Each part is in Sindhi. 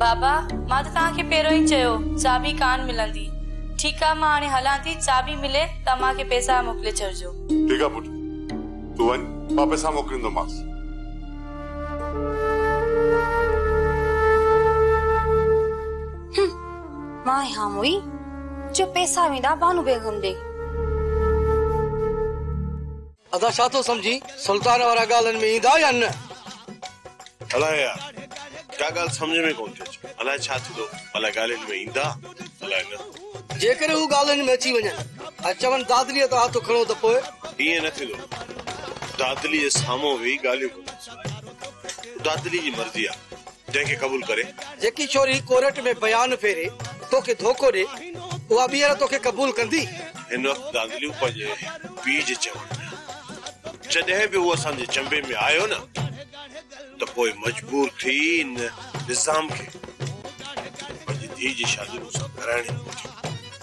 بابا، مان ته توهان کي پهريون ئي چيو، چاٻي ڪانه ملندي. ٺيڪ آ، مان هاڻي هلان ٿي، چاٻي ملي ته امان کي پئسا موڪلي ڇڏجو. ٺيڪ آ پٽ، تون وڃ، مان پئسا موڪليندومانس. هم، مان ئي هان موئي، جو پئسا ويندا بانو بيگم ڏي. ادا ڇا ٿو سمجهين سلطان وارا ڳالهن ۾ ايندا يا نه. الاء يار ڪا ڳالهه سمجهه ۾ ڪونه ٿي اچي الاء ڇا ٿيندو الاء ڳالهين ۾ ايندا الاء نه. جيڪڏهن هو ڳالهين ۾ اچي وڃن ۽ چون دادليء تان هٿ کڻو ته پوء. ائين نه ٿيندو دادليء سامهون ويهي ڳالهيون ڪندس. دادلي جي مرضي آ جنهن کي قبول ڪري. جيڪي ڇوري ڪورٽ ۾ بيان ڦيري توکي ڌوڪو ڏي اها ٻيهر توکي قبول ڪندي؟ هن وقت دادليون پنهنجي پيء جي چوڻ ۾ آ. جڏهن به هو اسان جي چنبي ۾ آيو نه ته پوء مجبور ٿي ان نظام کي پنهنجي ڌيء جي شادي مون سان ڪرائڻي پوندي.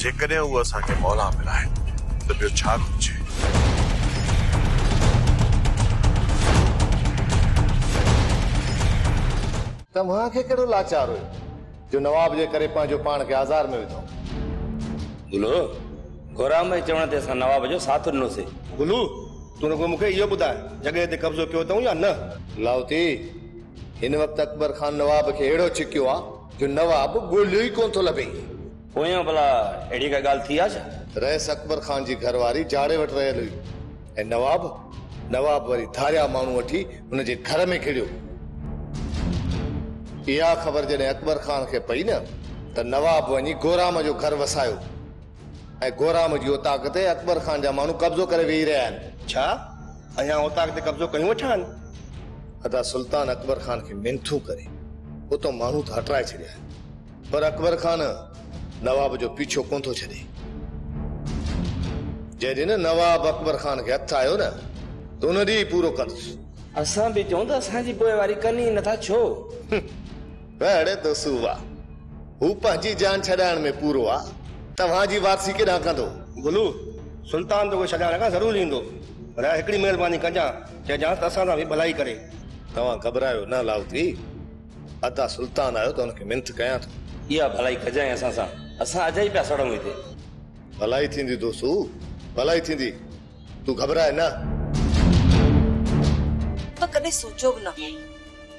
جيڪڏهن هو اسان کي مولان ملائي ته ٻيو ڇا گهرجي. توهان کي ڪهڙو لاچار هيو جو نواب جي ڪري پنهنجو پاڻ کي آزار ۾ وڌو. گلو، گورام جي چوڻ تي اسان نواب جو ساٿ ڏنو سي. گلو، تون رڳو مون کي اهو ٻڌاء جڳهه تي قبضو ڪيو اٿئون يا نه. لاهوتي، هن وقت اڪبر خان نواب کي اهڙو ڇڪيو آ. جو نواب ڳوليو ئي ڪونه ٿو لڀي. پويان ڀلا اهڙي ڪا ڳالهه ٿي آ ڇا؟ رئيس اڪبر خان جي گهر واري جاڙي وٽ رهيل هئي ۽ نواب نواب وري ڌاريا ماڻهو وٺي ان جي گهر ۾ گهڙيو. اها خبر جڏهن اڪبر خان کي پئي نه ته نواب وڃي گورام جو گهر وسايو ۽ گورام جي اوطاق تي اڪبر خان جا ماڻهو قبضو ڪري ويهي رهيا آهن. ڇا اهيان اوطاق تي قبضو ڪيون وٺان؟ ادا سلطان اڪبر خان کي منٿون ڪري اتان ماڻهو ته هٽرائي ڇڏيا آهن پر اڪبر خان نواب جو پيڇو ڪونه ٿو ڇڏي. جنهن ڏينهن نواب اڪبر خان کي هٿ آيو نه ته ان ڏينهن ئي پورو ڪندس. اسان به چئون ته اسان جي پوئواري ڪن ئي نٿا ڇو؟ به اڙي تو سووا، هو پنهنجي جان ڇڏائڻ ۾ پورو آ، توهان جي وارثي ڪيڏانهن ڪندو؟ گلو، سلطان توکي ڇڏائڻ ڪا ضرور ايندو، رحه هڪڙي مهرباني ڪجان، چئجانس ته اسان سان به ڀلائي ڪري. توهان گهٻرايو نه لاهوتي، ادا سلطان آيو ته هن کي منٿ ڪيان ٿو. اها ڀلائي ڪجانء اسان سان، اسان اجائي پيا سڙون هتي. ڀلائي ٿيندي تو سو ڀلائي ٿيندي، تون گهٻراء نه. تو ڪڏهن سوچيو به نه هو.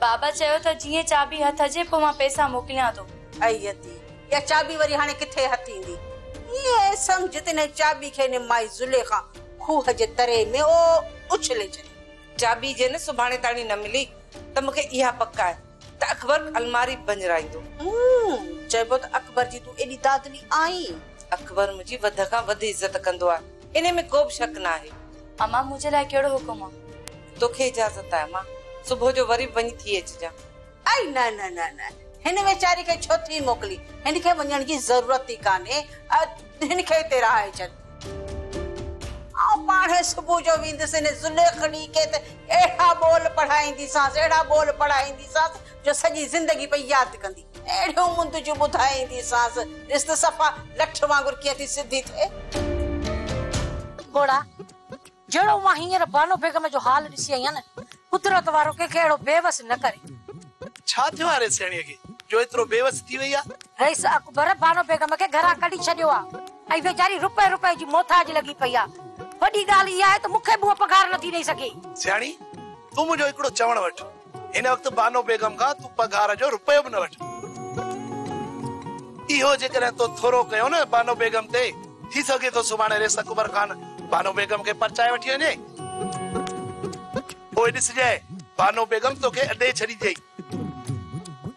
بابا چيو ته جيئن چاٻي هٿ اچي پوء مان پئسا موڪليان ٿو. اي ادي! اها چاٻي وري هاڻي ڪٿي هٿ ايندي؟ ائين سمجهه ته ان چاٻي کي هن مائي زليخا کوهه جي تري ۾ او اڇلي ڇڏي. چاٻي جي نه سڀاڻي تاڻي نه ملي ته مون کي اها پڪ آهي ته اڪبر الماري ڀڃرائيندو. هوم! چئبو ته اڪبر جي تون ايڏي دادلي آهين. اڪبر منهنجي وڌ کان وڌ عزت ڪندو آهي، انهي ۾ ڪوبه شڪ ناهي. امان منهنجي لاء ڪهڙو حڪم آ؟ توکي اجازت آهي امان صبح جو وري به وڃي ٿي اچجان. اي نه نه نه نه هن ويچاري کي ڇو ٿي موڪلين هن کي وڃڻ جي ضرورت ئي ڪانهي هن کي هتي رهائي ڇڏ. آئون پاڻهي صبح جو ويندس هن زليخڙي کي ته اهڙا ٻول پڙهائينديسانس اهڙا ٻول پڙهائينديسانس جو سڄي زندگي پئي ياد ڪندي. اهڙيون مندجون ٻڌائينديسانس، ڏس ته صفا لٺ وانگر ڪيئن ٿي سڌي ٿئي. گهوڙا، جهڙو مان هينئر بانو بيگم جو حال ڏسي آئي آهيان، قدرت وارو ڪنهن کي اهڙو بيوس نه ڪري. ڇا ٿيو آهي رئيس سهڻيء کي، جو ايترو بيوس ٿي ويئي آهي؟ رئيس اڪبر بانو بيگم کي گهران ڪڍي ڇڏيو آهي ۽ ويچاري رپئي رپئي جي محتاج لڳي پئي آهي. وڏي ڳالهه اها آهي ته مون کي به هوء پگهار نٿي ڏئي سگهي. سهڻي، تون منهنجو هڪڙو چوڻ وٺ. هن وقت بانو بيگم کان تون پگهار جو رپيو به نه وٺ. اهو جيڪڏهن تو ٿورو ڪيو نه بانو بيگم تي، ٿي سگهي ٿو سڀاڻي ريس اڪبر خان بانو بيگم کي پرچائي وٺي وڃي. پوء ڏسجئي بانو بيگم توکي اڏي ڇڏينديئي.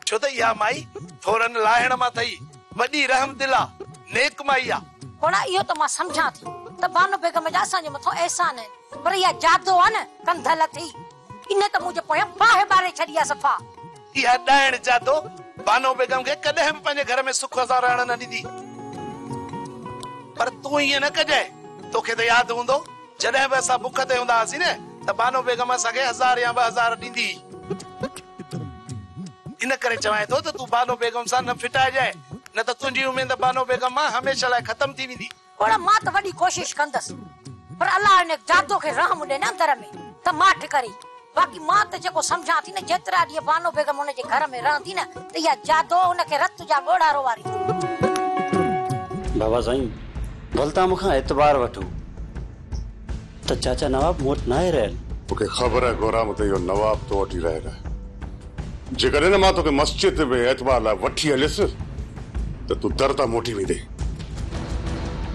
ڇو ته اها مائي ٿورن لاهڻ مان ٿئي، وڏي رحم دل آ، نيڪ مائي آ. ڀولا اهو ته مان سمجهان ٿي ته بانو بيگم جا اسان جي مٿان احسان آهن، پر اها جادو آ نه ڪنڌ لٿي. انهن ته منهنجي پويان باهه ٻاري ڇڏي آهي صفا. اها ڏائڻ جادو بانو بيگم کي ڪڏهن به پنهنجي گهر ۾ سک سان رهڻ نه ڏيندي. پر تون ائين نه ڪجانء. توکي ته ياد هوندو جڏهن به اسان بک تي هوندا هئاسين نه ته بانو بيگم اسان کي هزار يا ٻه هزار ڏيندي هئي. ان ڪري چوانء ٿو ته تون بانو بيگم سان نه ڦٽائجانء نه ته تنهنجي اميد بانو بيگم مان هميشه لاء ختم ٿي ويندي. اوڙا مان ته وڏي ڪوشش ڪندس پر الله هن جادو کي رحم ڏي نه اندر ۾ ته ماٺ ڪري باقي مان ته جيڪو سمجهان ٿي نه جيترا ڏينهن بانو بيگم هن جي گهر ۾ رهندي نه ته اها جادو هن کي رت جا ڳوڙها روئاريندي. بابا سائين ڀلتان مون کان اعتبار وٺو. ته چاچا نواب مون وٽ ناهي رهيل. مون کي خبر آهي گورام ته اهو نواب تو وٽ ئي رهيل آهي. جيڪڏهن نه مان توکي مسجد ۾ اعتبار لاء وٺي هليس ته تون در تان موٽي ويندين.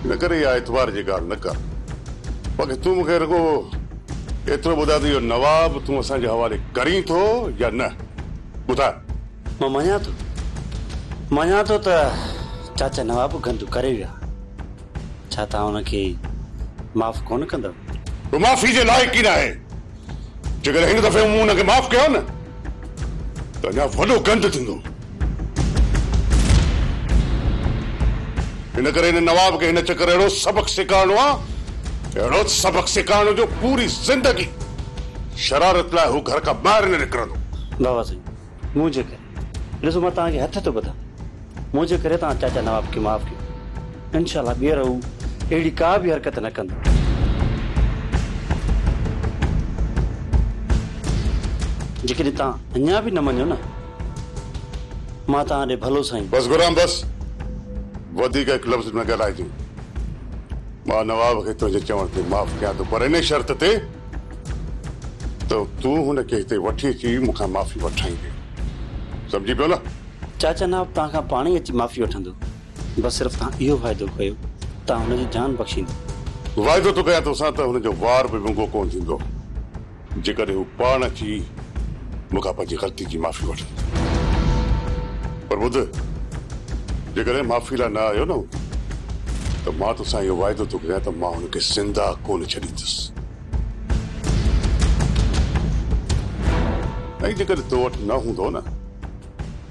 ان ڪري اها اعتبار جي ڳالهه نه ڪر. باقي تون مون کي رڳو ايترو ٻڌاء ته اهو نواب تون اسان جي حوالي ڪرين ٿو يا نه؟ ٻڌاء. مان مڃان ٿو. مڃان ٿو ته چاچا نواب گندو ڪري ويو آهي. ڇا توهان هن کي معاف ڪونه ڪندؤ؟ هو معافي جي لائق ئي ناهي. جيڪڏهن هن دفعي مون هن کي معاف ڪيو نه ته اڃا وڏو گند ٿيندو. ان ڪري هن نواب کي هن چڪر اهڙو سبق سيکارڻو آ، اهڙو سبق سيکارڻو جو پوري زندگي شرارت لاء هو گهر کان ٻاهر نه نڪرندو. بابا سائين منهنجي ڪري ڏسو مان توهان کي هٿ ٿو ٻڌان منهنجي ڪري توهان چاچا نواب کي معاف ڪيو انشاء الله ٻيهر هو اهڙي ڪا به حرڪت نه ڪندو جيڪڏهن توهان اڃا به نه مڃو نه مان توهان ڏي ڀلو سائين بس غلام بس وڌيڪ هڪ لفظ نه ڳالهائجي مان نواب کي تنهنجي چوڻ تي معاف ڪيان ٿو پر ان شرط تي ته تون هن کي هتي وٺي اچي مون کان معافي وٺرائيندين. سمجهي پيو نه؟ چاچا نواب توهان کان پاڻ ئي اچي معافي وٺندو. بس صرف توهان اهو واعدو ڪيو توهان هن جي جان بخشيندو. واعدو ٿو ڪيان توسان ته هن جو وار به ونگو ڪونه ٿيندو. جيڪڏهن هو پاڻ اچي. مون کان پنهنجي غلطي جي معافي وٺ. پر ٻڌ، جيڪڏهن معافي لاء نه آيو نه هوندو ته مان توسان اهو واعدو ٿو ڪريان ته مان هن کي زنده ڪونه ڇڏيندس. ۽ جيڪڏهن تو وٽ نه هوندو نه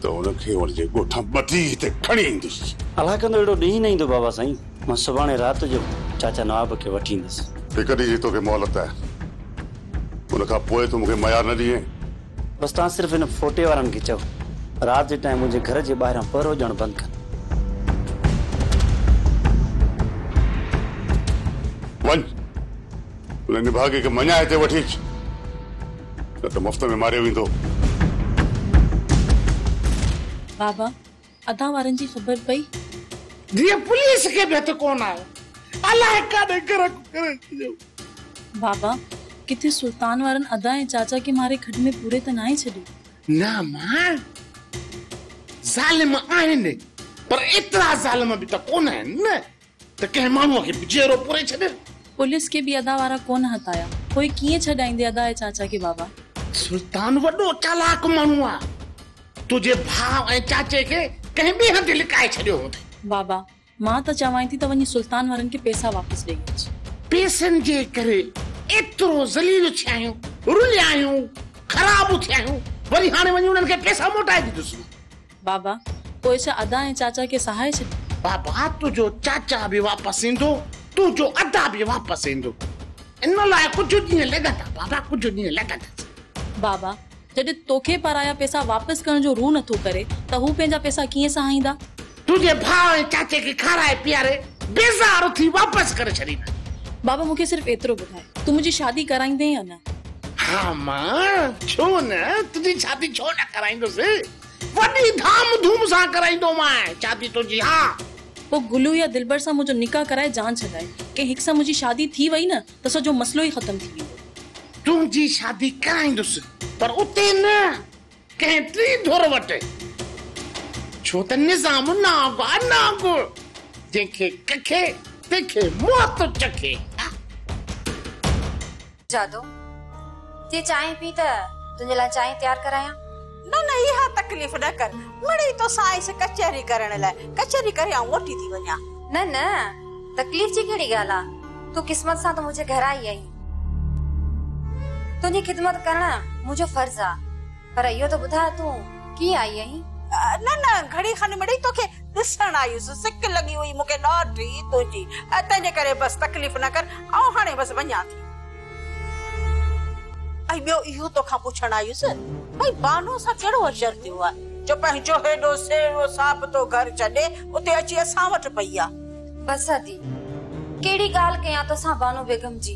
ته هن کي هن جي ڳوٺان ٻڌي هتي کڻي ايندس. الله ڪندو اهڙو ڏينهن ئي نه ايندو بابا سائين. مان سڀاڻي رات جو چاچا نواب کي وٺي ايندس. هڪ ڏينهن جي توکي مهلت آهي. ان کان پوء تون مون کي ميار نه ڏينء. بس توهان صرف هن ڦوٽي وارن کي چئو رات جي ٽائيم منهنجي گهر جي ٻاهران پهرو ڏيڻ بند ڪن. وڃ ان نڀاڳي کي مڃان هتي وٺي اچ نه ته مفت ۾ ماريو ويندو. بابا ادا وارن جي خبر پئي. جيئن پوليس کي به هٿ ڪونه آيو الاء ڪاڏي گرڪ ڪري ڇڏيو. بابا ڪٿي سلطان وارن ادا ۽ چاچا کي ماري کڏ ۾ پوري ته ناهي ڇڏيو. نه مان ظالم آهن پر ايترا ظالم به ته ڪونه آهن نه. ته ڪنهن ماڻهوء کي جيئرو پوري ڇڏ. پوليس کي به ادا وارا ڪونه هتايا. پوء ڪيئن ڇڏائيندي ادا ۽ چاچا کي بابا؟ سلطان وڏو چالاڪ ماڻهو آ. تنهنجي ڀاء ۽ چاچي کي ڪنهن ٻئي هنڌ لڪائي ڇڏيو هوندي. بابا، مان ته چوانء ٿي ته وڃي سلطان وارن کي پيسا واپس ڏئي اچ. پيسن جي ڪري ايترو ذليل ٿيا آهيون، رليا آهيون، خراب ٿيا آهيون، وري هاڻي وڃي انهن کي پيسا موٽائي ڏيندوسون. بابا، پوء ڇا ادا ۽ چاچا کي سهائي ڇڏيو؟ بابا، تنهنجو چاچا به واپس ايندو، تنهنجو ادا به واپس ايندو. ان لاء ڪجهه ڏينهن لڳندا بابا، ڪجهه ڏينهن لڳندا. بابا، جڏهن توکي پرايا پئسا واپس ڪرڻ جو روح نٿو ڪري ته هو پنهنجا پئسا ڪيئن سهائيندا؟ تنهنجي ڀاء ۽ چاچي کي کارائي پياري بيزار ٿي واپس ڪري ڇڏيندا. بابا، مون کي صرف ايترو ٻڌاء، تون منهنجي شادي ڪرائيندين يا نه؟ ها مان، ڇو نه، تنهنجي شادي ڇو نه ڪرائيندس. وڏي ڌام ڌوم سان ڪرائيندومانء شادي تنهنجي ها. پوء گلو يا دلبر سان منهنجو نڪاح ڪرائي جان ڇڏائي. ڪنهن هڪ سان منهنجي شادي ٿي وئي نه ته سڄو مسئلو ئي ختم ٿي ويندو. تنهنجي شادي ڪرائيندس پر اتي نه ڪنهن ٽي ڌر وٽ. ڇو ته نظام نانگ آ نانگ. جنهن کي ڪکي تنهن کي موت چکي. جادو، جي چانهه پي ته تنهنجي لاء چانهه تيار ڪرايان؟ نه نه اها تڪليف نه ڪر، مڙئي توسان آئس ڪچهري ڪرڻ لاء، ڪچهري ڪري آئون موٽي ٿي وڃان. نه نه تڪليف جي ڪهڙي ڳالهه آ، تون قسمت سان ته منهنجي گهر آئي آهين، تنهنجي خدمت ڪرڻ منهنجو فرض آ. پر اهو ته ٻڌاء تون ڪيئن آئي اهين؟ نه نه گهڙي کن مڙئي توکي ڏسڻ آيس. سڪ لڳي هئي مون کي ڏاڍي تنهنجي ۽ تنهنجي ڪري بس تڪليف نه ڪر آئون هاڻي بس وڃان ٿي. ۽ ٻيو اهو توکان پڇڻ آيس ڀئي بانوء سان ڪهڙو اشر ٿيو آهي جو پنهنجو هيڏو سهڻو ساهب تو گهر ڇڏي اتي اچي اسان وٽ پئي آ. بس ادي، ڪهڙي ڳالهه ڪيان توسان بانو بيگم جي.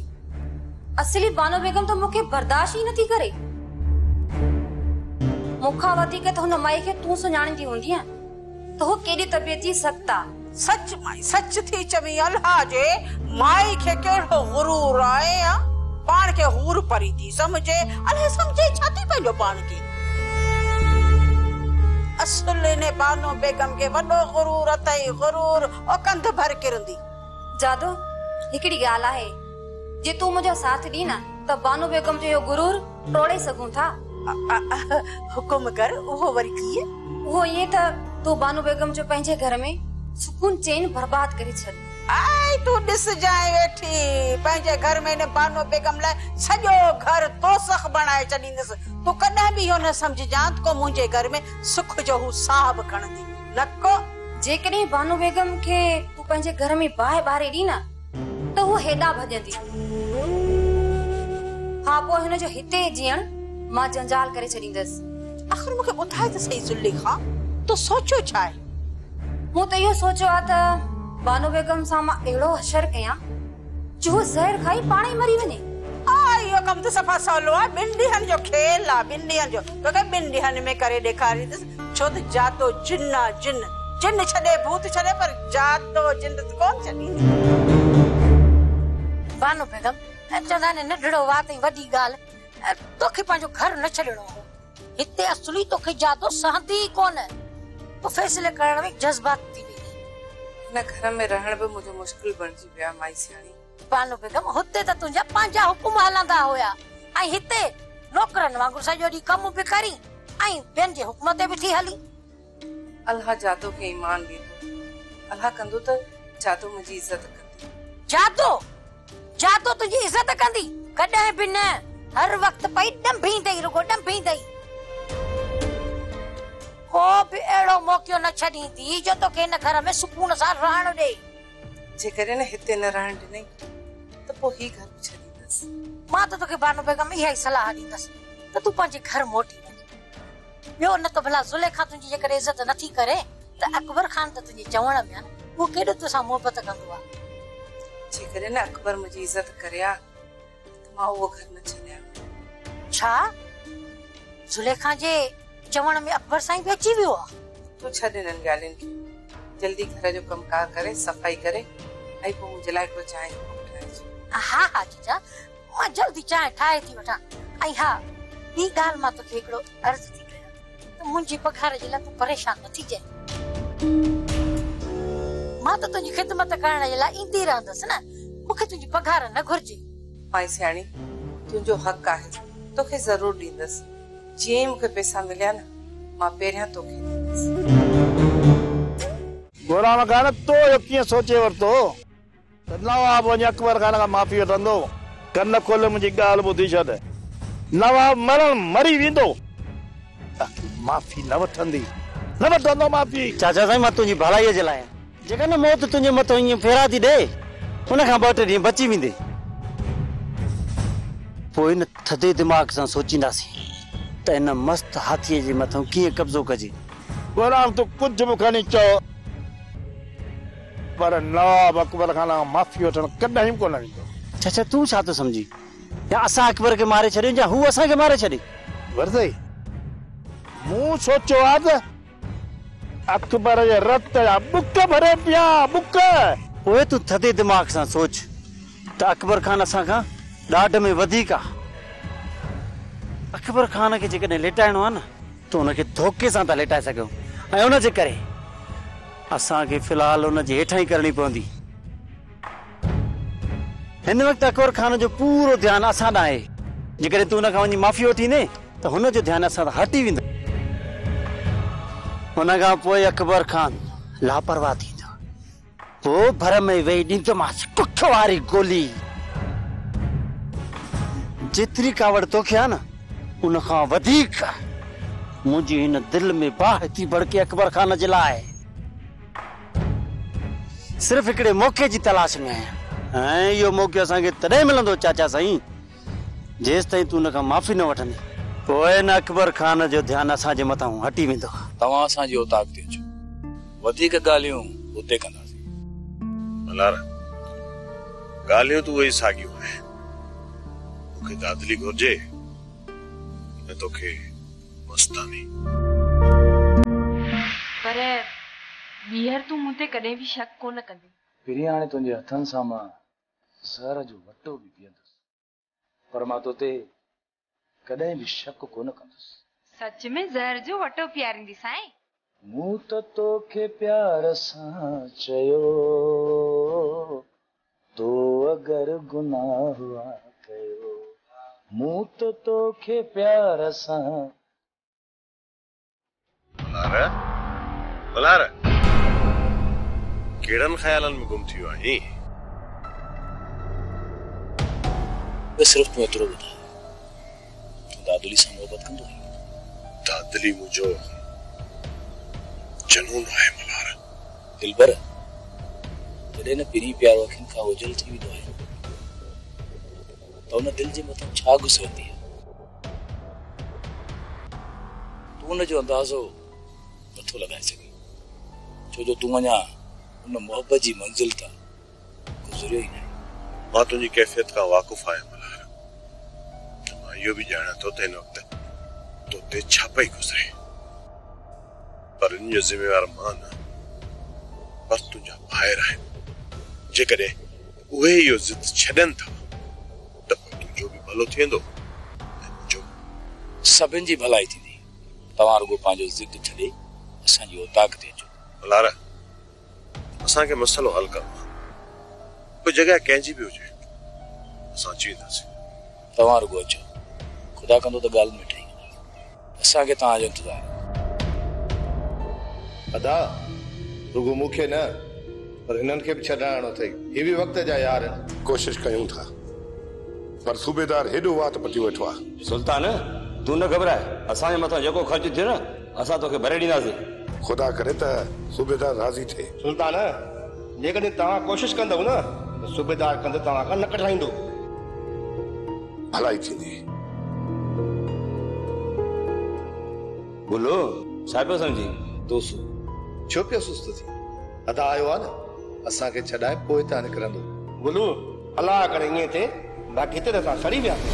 اصلي بانو بيگم ته مون کي برداشت ئي نٿي ڪري. مون کان وڌيڪ ته هن مائي کي تون سڃاڻيندي هوندينء ته هوء ڪيڏي طبيعت جي سخت آ. سچ مائي، سچ ٿي چوين الها جي مائي کي ڪهڙو غرور آهي ها؟ پاڻ کي حور پري ٿي سمجهي. الهه سمجهي ڇا ٿي پنهنجو پاڻ کي؟ اصل انهي بانو بيگم کي وڏو غرور اٿئي، غرور او ڪنڌ ڀر ڪرندي. جادو، هڪڙي ڳالهه آهي، جي تون منهنجو ساٿ ڏين ها ته بانو بيگم جو اهو غرور ٽوڙي سگهون ٿا. حڪم ڪر، اهو وري ڪيئن؟ اهو ائين ته تون بانو بيگم جو پنهنجي گهر ۾ سڪون چين برباد ڪري ڇڏ. هائي تون ڏسجانء ويٺي، پنهنجي گهر ۾ هن بانو بيگم لاء سڄو گهر دوزخ بڻائي ڇڏيندس، تون ڪڏهن به اهو نه سمجهجان ته ڪو منهنجي گهر ۾ سک جو هو ساهه به کڻندي نه ڪو. جيڪڏهن بانو بيگم کي تون پنهنجي گهر ۾ باهه ٻاري ڏين ها ته هوء هيڏانهن ڀڄندي. ها پوء هن جو هتي جيئڻ مان جنجال ڪري ڇڏيندس. آخر مون کي ٻڌاء ته سهي زليخا تو سوچيو ڇا آهي؟ مون ته اهو سوچيو آهي ته بانو بيگم سان مان اهڙو حشر ڪيان جو هوء زهر کائي پاڻ ئي مري وڃي. آء اهو ڪم ته صفا سولو آهي، ٻن ڏينهن جو کيل آهي، ٻن ڏينهن جو، توکي ٻن ڏينهن ۾ ڪري ڏيکاريندس، ڇو ته جاتو جن آهي، جن، جن ڇڏي، ڀوت ڇڏي پر جاتو جن ته ڪونه ڇڏيندي. بانو بيگم، چوندا آهن ننڍڙو وات ۽ وڏي ڳالهه. توکي پنهنجو گهر نه ڇڏڻو هو. هتي اصلي توکي جادو سهندي ئي ڪونه. تون فيصلي ڪرڻ ۾ جذباتي ٿي ويندين. هن گهر ۾ رهڻ به منهنجو مشڪل بڻجي ويو آهي مائي سياڻي. بانو بيگم هتي ته تنهنجا پنهنجا حڪم هلندا هيا ۽ هتي نوڪرن وانگر سڄو ڏينهن ڪم به ڪرين ۽ ٻين جي حڪم تي به ٿي هلين. الله جادو کي ايمان ڏيندو. الله ڪندو ته جادو منهنجي عزت ڪندي. جادو! جادو تنهنجي عزت ڪندي؟ ڪڏهن به نه. هر وقت پئي ڏنڀيندئي، رڳو ڏنڀيندئي. ڪو به اهڙو موقعو نه ڇڏيندي جو توکي هن گهر ۾ سڪون سان رهڻ ڏئي. جيڪڏهن هتي نه رهڻ ڏنئي ته پوء هي گهر به ڇڏيندس. مان ته توکي بانو بيگم اها ئي صلاح ڏيندس ته تون پنهنجي گهر موٽي وڃ. ٻيو نه ته ڀلا زليخا تنهنجي جيڪڏهن عزت نه ٿي ڪري ته اڪبر خان ته تنهنجي چوڻ ۾، اهو ڪيڏو تو سان محبت ڪندو آ. جيڪڏهن اڪبر منهنجي عزت ڪري ها ته مان اهو گهر نه ڇڏيان ها. ڇا؟ زليخا جي چوڻ ۾ اڪبر سائين به اچي ويو آ. تون ڇڏ انهن ڳالهين کي. جلدي گهر جو ڪم ڪار ڪري صفائي ڪري ۽ پوء منهنجي لاء هڪڙو چانهه جو ڪپ ٺاهيج. ها ها چچا. مان جلدي چانهه ٺاهي ٿي وٺان ۽ ها ٻي ڳالهه مان توکي هڪڙو عرض ٿي ڪيان ته منهنجي پگهار جي لاء تون پريشان نه ٿيجانء. مان ته تنهنجي خدمت ڪرڻ جي لاء ايندي رهندس نه، مون کي تنهنجي پگهار نه گهرجي. مائي سياڻي تنهنجو حق آهي توکي ضرور ڏيندس، جيئن ئي مون کي پيسا مليا نه مان پهريان توکي ڏيندس. گورام ڪا نه تو اهو ڪيئن سوچي ورتو؟ ته نواب وڃي اڪبر خان کان معافي وٺندو. ڪن کولي منهنجي ڳالهه ٻڌي ڇڏ. نواب مرڻ مري ويندو. ته تون معافي نه وٺندي. نه وٺندو معافي. چاچا سائين مان تنهنجي ڀلائي جي لاء آهيان. جيڪڏهن موت تنهنجي مٿان ائين ڦيرا ٿي ڏئي. ان کان ٻه ٽي ڏينهن بچي ويندي. پوء ان ٿڌي دماغ سان سوچينداسين. ته ان مست هاٿيء جي مٿان ڪيئن قبضو ڪجي. ٻهراڻ تون ڪجهه به کڻي چئو. پر نواب اڪبر کان آئون معافي وٺڻ ڪڏهن ڪونه ويندو. چچا تون ڇا ٿو سمجهين؟ يا اسان اڪبر کي ماري ڇڏيون يا هو اسان کي ماري ڇڏي. ورسئي مون سوچيو آ ته اڪبر جي رت جا ٻڪ ڀري پيان، ٻڪ! پوء تون ٿڌي دماغ سان سوچ ته اڪبر خان اسان کان ڏاڍ ۾ وڌيڪ آ. اڪبر خان کي جيڪڏهن ليٽائڻو آ نه ته ان کي ڌوڪي سان ٿا ليٽائي سگهيون ۽ ان جي ڪري. اسان کي في الحال ان جي هيٺان ئي ڪرڻي پوندي. هن وقت اڪبر خان جو پورو ڌيان اسان ڏانهن آهي. جيڪڏهن تون هن کان وڃي معافي وٺي ايندين ته هن جو ڌيان اسان تان هٽي ويندو. ان کان پوء اڪبر خان لاپرواهه ٿيندو. پوء ڀر ۾ ويهي ڏيندومانس ڪک واري گولي. جيتري ڪاوڙ توکي آهي نه. ان کان وڌيڪ منهنجي هن دل ۾ باهه ٿي ڀڙڪي اڪبر خان جي لاء صرف هڪڙي موقعي جي تلاش ۾ آهيان ۽ اهو موقعو اسان کي تڏهن ملندو چاچا سائين جيستائين تون ان کان معافي نه وٺندين پوء ان اڪبر خان جو ڌيان اسان جي مٿان هٽي ويندو. توهان اسان جي اوطاق تي اچو وڌيڪ ڳالهيون اتي ڪنداسين. ملهار، ڳالهيون ته اهي ئي ساڳيون آهن. مون کي دادلي گهرجي نه تو کي مستاني. پر ٻيهر تون مون تي ڪڏهن به شڪ ڪونه ڪندين. پرين هاڻي تنهنجي هٿن سان مان زهر جو وٽو به پيئندس. پر مان تو تي ڪڏهن به شڪ ڪونه ڪندس. سچ ۾ زهر جو وٽو پياريندي سائين. مون ته توکي پيار سان چيو تو اگر گناهه آ ڪيو مون ته توکي پيار سان. ڀلار! ڀلار! ڪهڙن خيالن ۾ گم ٿي ويو آهين؟ بس صرف تون ايترو ٻڌاء تون دادلي سان محبت ڪندو آهين؟ دادلي منهنجو جنون آهي ڀلار! دلبر! جڏهن نه پرينء پيار اکين کان اوجهل ٿي ويندو آهي ته ان دل جي مٿان ڇا گذرندي آهي؟ تون ان جو اندازو نه ٿو لڳائي سگهين، ڇو جو تون اڃا ان محبت جي منزل تان گذريو ئي ناهين. مان تنهنجي ڪيفيت کان واقف آهيان ملهار، ته مان اهو به ڄاڻان ٿو ته هن وقت تو تي ڇا پئي گذري، پر ان جو ذميوار مان نه پر تنهنجا ڀائر آهن، جيڪڏهن اهي اهو ضد ڇڏين ٿا. ته پوء تنهنجو به ڀلو ٿي ويندو ۽ منهنجو به. سڀن جي ڀلائي ٿيندي. توهان رڳو پنهنجو ضد ڇڏي اسان جي اوطاق تي اچو. ملهار، اسان کي مسئلو حل ڪرڻو آهي. پوء جڳهه ڪنهن جي به هجي، اسان اچي وينداسين. توهان رڳو اچو. خدا ڪندو ته ڳالهه مٺ ئي ڪندا. اسان کي توهان جو انتظار آهي. ادا رڳو مون کي نه پر هنن کي به ڇڏرائڻو اٿئي هي به وقت جا يار آهن. ڪوشش ڪيون ٿا پر صوبيدار هيڏو وات پٽيو ويٺو آ. سلطان تون نه گهٻراء اسان جي مٿان جيڪو خرچ ٿيو نه اسان توکي ڀري ڏينداسين. خدا ڪري ته صوبيدار راضي ٿئي. سلطان جيڪڏهن توهان ڪوشش ڪندؤ نه ته صوبيدار ڪنڌ توهان کان نه ڪڍرائيندو. ڀلائي ٿيندي. بلو، ڇا پيو سمجهين؟ توسو ڇو پيو سست ٿين؟ ادا آيو آ نه، اسان کي ڇڏائي پوء هتان نڪرندو. بلو، الله ڪري ائين ٿئي، باقي هتي ته اسان سڙي وياسين.